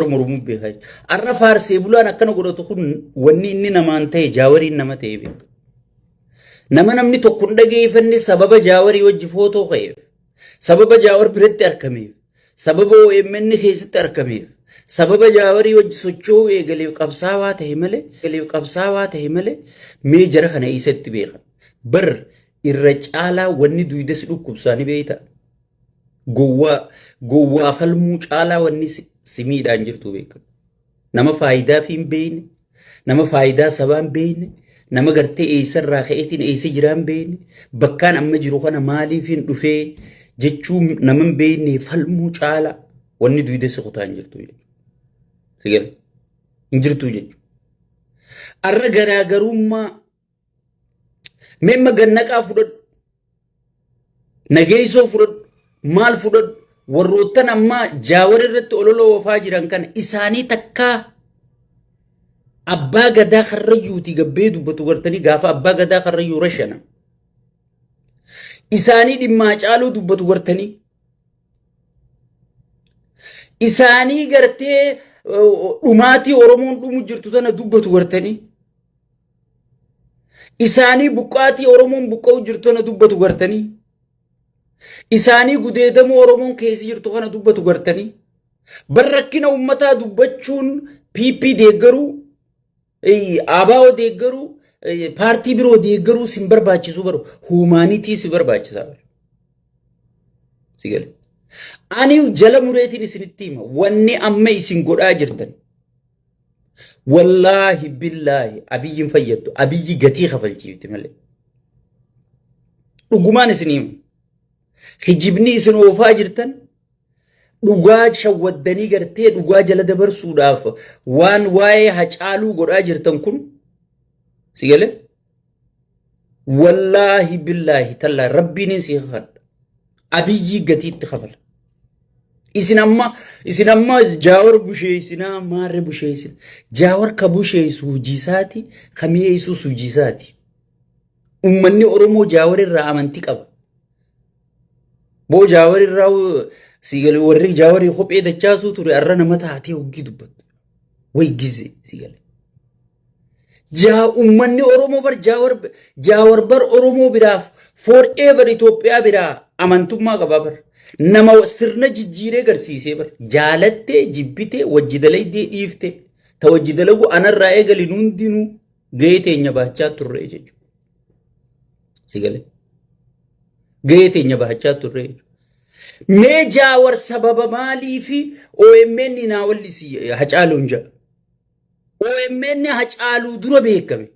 Oromoo Oromoo beekaa jechuudha. Har'a faarsee bulaan akkana godhatu kun wanni inni namaan ta'e jaawariin nama ta'e beeku. Nama namni tokko hin dhageeffanne sababa jaawarii wajji footoo ka'eef, sababa jaawar biratti argameef, sababa OMN keessatti argameef, sababa jaawarii wajji socho'uu eegaleef qabsaawaa ta'e malee, eegaleef qabsaawaa ta'e malee mee jara kana eessatti beeka. Bar irra caalaa wanni duudes dhukkubsaanii beektaa. Gowwaa gowwaa falmuu caalaa wanni si si miidhaan jirtu beekamu. Nama faayidaa fi hin beeyne, nama faayidaa sabaa hin beeyne, nama gartee eessarraa ka'eetiin eessa jiraa hin beeyne, bakkaan amma jiru kana maaliif hin dhufee jechuu nama hin beeyne falmuu caalaa wanni duwidee si kutaa hin jirtu jechuudha. Sigale hin jirtu jechuudha. Arra garaagarummaa Memma gannaqaa fudhadhu. Nageessoo fudhadhu. Maal fudhadhu. Warroottan ammaa jaawar irratti ololoo oofaa jiran kana isaanii takkaa abbaa gadaa karrayyuuti gabbee dubbatu gartanii gaafa abbaa gadaa karrayyuu rashana. Isaanii dhimmaa caaluu dubbatu gartanii. Isaanii gartee dhumaatii Oromoon dhumu jirtu tana dubbatu gartanii. Isaanii buqqaatii Oromoon buqqa'u jirtu kana dubbatu gartanii. Isaanii gudeedamuu Oromoon keessa jirtu kana dubbatu gartanii. Bar rakkina uummataa dubbachuun PP deeggaruu, ABO deeggaruu, paartii biroo deeggaruu sin barbaachisu baru huumaanitii si barbaachisaa baru. Si gale. Ani jala mureetiin isinitti hima wanni amma isin godhaa jirtan. Wallaahi billaahi abiyyiin fayyaddu abiyyi gatii kafalchiifti malee. Dhugumaan isin himu. Hijibni isin oofaa jirtan dhugaa shawwaddanii gartee dhugaa jala dabarsuudhaaf waan waa'ee hacaaluu godhaa jirtan kun si galee wallaahi billaahi tallaahi rabbiinin si kakadha abiyyii gatiitti kafala isin amma isin amma jaawar busheessinaa maarre busheessin jaawar ka busheessu hojiisaati ka mi'eessus hojiisaati ummanni oromoo jaawar irraa amantii qaba Boo jaawar irraa si gale warri jaawarii kophee dachaasuu ture arra nama taatee hoggii dubbattu. Way gize si gale. Jaa ummanni Oromoo bar jaawar jaawar bar Oromoo biraaf for ever Itoophiyaa biraa amantummaa qabaa bar. Nama sirna jijjiiree garsiisee bar. Jaalattee jibbitee wajji dalaydee dhiiftee ta wajji dalagu anarraa eegali hundinuu gahee teenya baachaa turre jechuudha. Si galee? Gahee teenya bahachaa turre jechuudha. Mee jaawar sababa maalii fi OMN naa wallisi hacaaluun jedha. OMN hacaaluu dura beekame.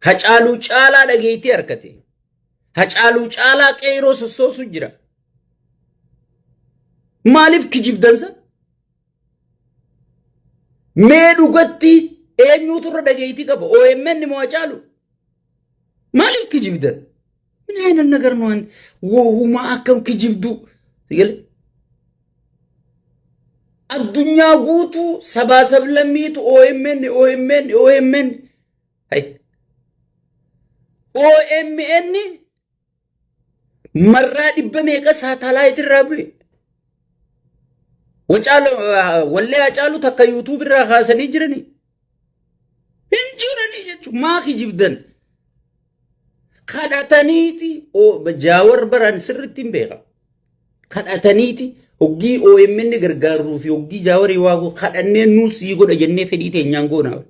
Hacaaluu caalaa dhageettii harkate. Hacaaluu caalaa qeeroo sossoosu jira. Maaliif kijibdansa? Mee dhugatti eenyuutu irra dhageettii qaba? OMN moo Hacaalu? Maaliif kijibdan? Min ayina nagar nu wanti wohuma akkam kijibdu. Sigale? Addunyaa guutuu sabaa sablammiitu OMN OMN OMN. Hay. OMN Marraa dhibba meeqa saatalaayit irraa bu'e? Wacaala wallee hacaalu takka yuutuub irraa kaasanii jiranii? Hin jiranii jechuun maa kijibdan? Kadhataniiti jaawar baraan sirriitti hin beeka. Kadhataniiti hoggii OMN gargaaruu fi hoggii jaawarii waaguu kadhannee nuus sii godha jennee fedhii teenyaan goonaa.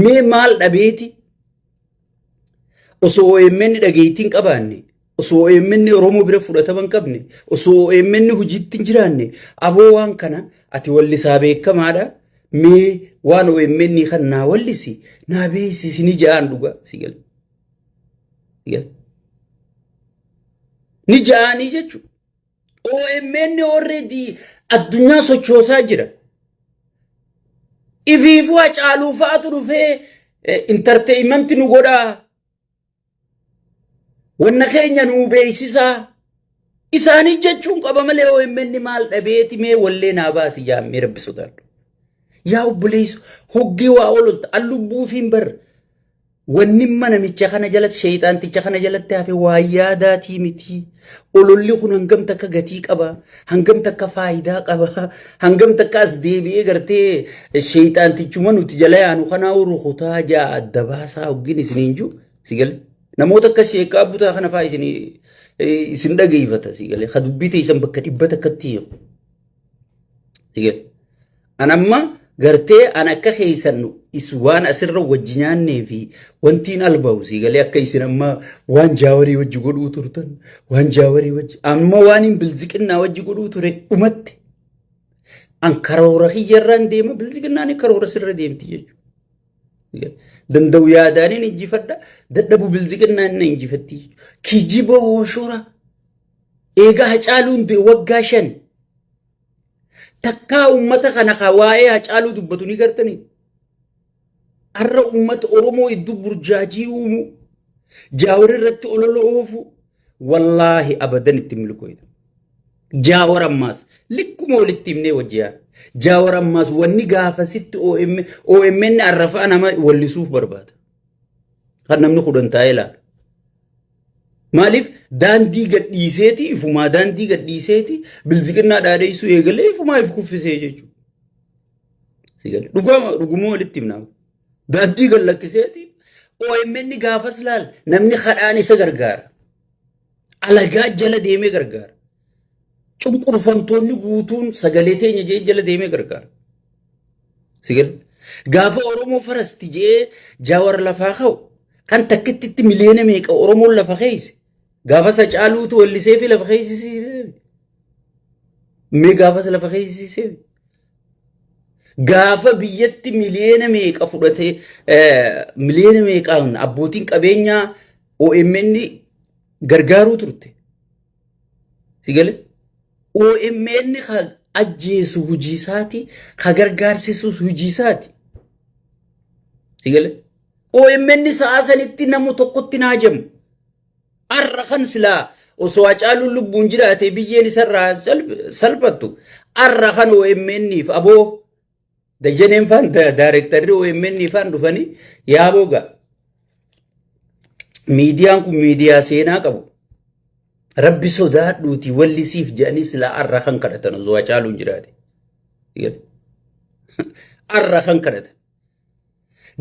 Mee maal dhabeeti? Osoo OMN dhageettii hin qabaanne, osoo OMN Oromoo bira fudhatama hin qabne, osoo OMN hojiitti hin jiraanne, aboo waan kana ati wallisaa beekamaadha. Mee waan OMN kan naa wallisi naa beeksisi ni ja'aan dhugaa si gala. Ni ja'aanii jechuudha. OMN already addunyaa sochoosaa jira. Ifiifuu hacaaluu fa'aatu dhufee intarteeyimenti nu godhaa. Wanna keenya nuu beeksisaa. Isaanii jechuun qaba malee OMN maal dhabeeti mee wallee naa baasi jaammee rabbi sodaadhu. Yaa obboleessu hoggee waa oololta an lubbuufiin bar Wannimma namicha kana jalatti sheeyxaanticha kana jalatti hafe waa yaadaatii miti. Ololli kun hangam takka gatii qaba, hangam takka faayidaa qaba, hangam takka as deebi'ee gartee sheeyxaantichuma nuti jala yaanu kanaa rukutaa ja'a adda baasaa hoggin isiniin jiru si galee. Namoota akka sheekaa butaa kana fa'aa isin isin dhageeffata si galee. Ka dubbii teessan bakka dhibba takkatti hiiku si galee. An amma gartee an akka keessan is waan asirra wajji nyaannee fi wantiin albahu sii galee akka isin amma waan jaawarii wajji godhuu turtan waan jaawarii wajji amma waan hin bilziqinnaa wajji godhuu ture dhumatte an karoora kiyyarraan deema bilziqinnaan karoora sirra deemti jechuudha. Danda'u yaadaaniin injifadha dadhabu bilziqinnaan na injifatti jechuudha. Kijiba hooshora eegaa hacaaluun waggaa shan. Takkaa uummata kana ka waa'ee Hacaaluu dubbatu ni gartanii? Har'a uummata Oromoo iddoo burjaajii uumuu, jaawar irratti olola oofuu, wallaahi abadan itti milkooyna. Jaawar ammaas likkuma walitti himnee wajjiyaa. Jaawar ammaas wanni gaafasitti OMN arrafaa nama wallisuuf barbaada. Kan namni kudhan taa'ee ilaalu. Maaliif daandii gadhiiseeti ifumaa daandii gadhiiseeti bilziqinnaa dhaadheessuu eegalee ifumaa if kuffisee jechuudha. Sigale. Dhugama dhuguma walitti himnaa. Daandii gad lakkiseeti OMN gaafas laal namni kadhaan isa gargaara. Alagaa jala deemee gargaara. Cunqurfamtoonni guutuun sagalee teenya jee jala deemee gargaara. Sigale. Gaafa Oromoo farasti jee jaawar lafaa ka'u kan takkittitti miliyoona meeqa Oromoon lafa keeyse. Gaafa isa caaluutu wallisee fi lafa keeysisee. Mee gaafas lafa keeysisee. Gaafa biyyatti miliyoona meeqa fudhatee miliyoona meeqaan abbootiin qabeenyaa OMN gargaaruu turte. Sigale OMN ka ajjeesu hujii isaati, ka gargaarsisus hujii isaati. Sigale OMN sa'a sanitti namu tokkotti naa jamu. Har'a kan silaa osoo Hacaaluun lubbuun jiraatee biyyeen isarraa salphattu har'a kan OMN'if aboo Dajaneen faan daarektarri OMN faan dhufanii yaa boga miidiyaan kun miidiyaa seenaa qabu. Rabbi sodaadhuuti walli siif jedhanii silaa arra kan kadhatan osoo hacaaluun jiraate. Arra kan kadhatan.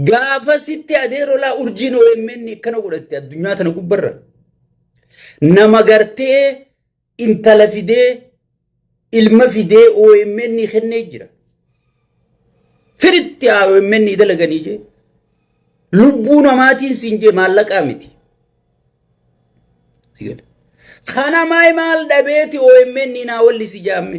Gaafa sitti adeerolaa urjiin OMN akkana godhatte addunyaa tana gubbarra. Nama gartee intala fidee ilma fidee OMN kennee jira. Firitti haa OMN dalaganii jee. Lubbuu namaatiin siin jee maallaqaa miti. Kana maay maal dhabeeti OMN naa walli si jaamme.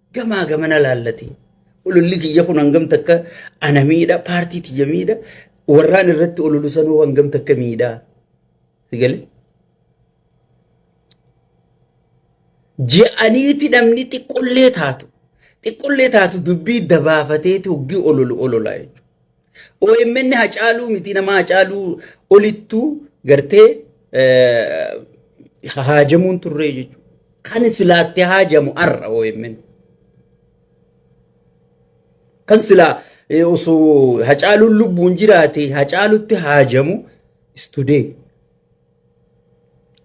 Gamaa gamana laallati. Ololli kiyya kun hangam takka ana miidha, paartii tiyya miidha, warraan irratti ololu sanuu hangam takka miidha. Sigale? Je'aniiti namni xiqqollee taatu. Xiqqollee taatu dubbii dabaafateeti hoggii ololu ololaa jechuudha. OMN Hacaaluu miti nama Hacaaluu olittuu gartee haajamuun turree jechuudha. Kan silaatti haajamu har'a OMN. Kan silaa osoo Hacaaluun lubbuun jiraate Hacaalutti haajamu istudee.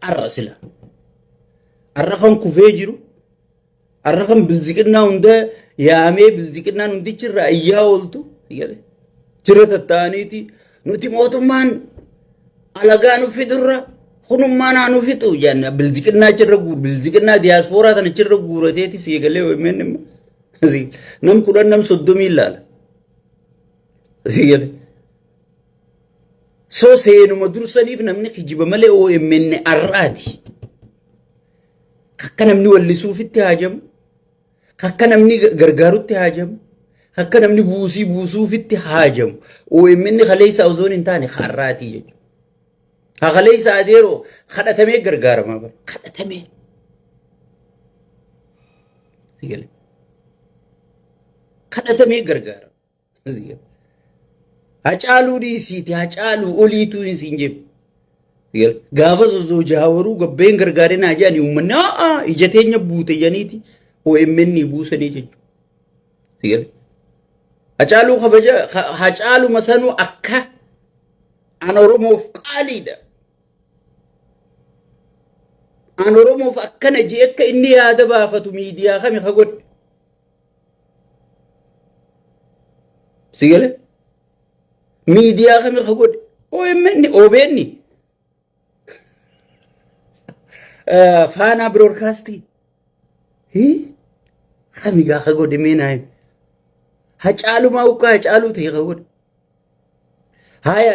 Har'a sila. Har'a kan kufee jiru Har'a kan bilziqinnaa hunda yaamee bilziqinnaan hundichi irraa iyyaa ooltu jedhe. Jira tattaa'aniiti nuti mootummaan alagaa nu fidurra kunummaa naa nu fixu jenne bilziqinnaa achirra guur bilziqinnaa diyaaspooraa sana achirra guurateeti sii galee OMN immoo. Sii- Nam kudhan nam soddomii ilaala. Sii galee. So seenuma dursaniif namni kijiba malee OMN har'aati. Akka namni wallisuufitti haajamu, akka namni gargaarutti haajamu, akka namni buusii buusuufitti haajamu. OMN kaleessa osoo hin taane har'aatii jechuudha. Ha kaleessa adeeroo kadhatamee gargaaramaa bara. Kadhatamee. Kadhatamee gargaarama. Hacaaluu dhiisiiti hacaaluu oliituu hin siin jedhu. Gaafa osoo jaawaruu gabbeen gargaaree naa jedhani uummanni haa ija teenya buute janiiti OMN buusanii jechuudha. Hacaaluu kabaja hacaaluma sanuu akka an Oromoof qaaliidha. An Oromoof akkana jee akka inni yaada baafatu miidiyaa kami ka godhe. si gale miidiyaa kami ka godhe OMN OBN faanaa biroodkaastii hii kami gaa ka godhe mee naa himi hacaalumaa ukkaa hacaaluu ta'e ka godhe haya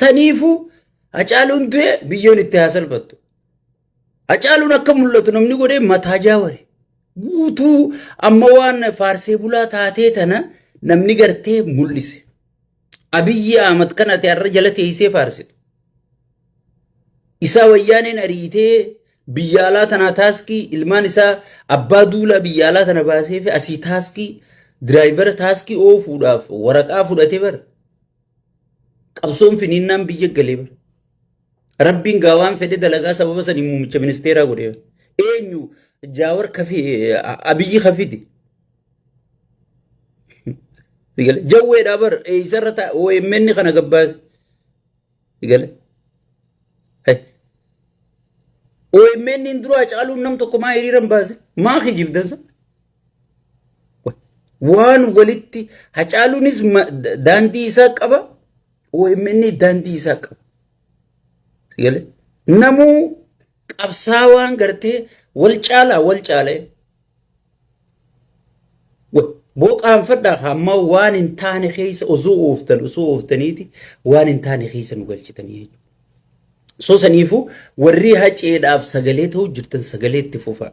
Saniifuu Hacaaluun du'e biyyoon itti haa salphattu. Hacaaluun akka mul'atu namni godhee mataa jaaware. Guutuu amma waan faarsee bulaa taatee tana namni gartee mul'ise. Abiyyi Ahmad kan ati har'a jala teessee faarsitu. Isaa wayyaaneen ariitee biyya alaa tanaa taaskii ilmaan isaa abbaa duulaa biyya alaa tana baasee fi asii taaskii diraayivara taaskii oofuudhaaf waraqaa fudhatee bara. Qabsoon finiinnaan biyya galee bara. Rabbiin gaa waan fedhe dalagaa sababa saniin muummicha ministeeraa godhe. Eenyu jaawar kafi abiyyi kafidi. Jawweedhaa bar eessarra ta'a OMN kana gabbaase. Gale. OMN duraa caaluun nam tokko maa hiriiran baase maa kijibdansa. Waan walitti hacaaluunis ma- da- daandii isaa qaba, OMN daandii isaa qaba. Gale? Namuu qabsaawaan gartee wal caalaa wal caalee wa- booqaanfadhaa hamma waan hin taane keessa osoo ooftan osoo ooftaniiti waan hin taane keessa nu galchitanii jechuudha. So saniifuu warri haceedhaaf sagalee ta'uu jirtan sagalee itti fufaa.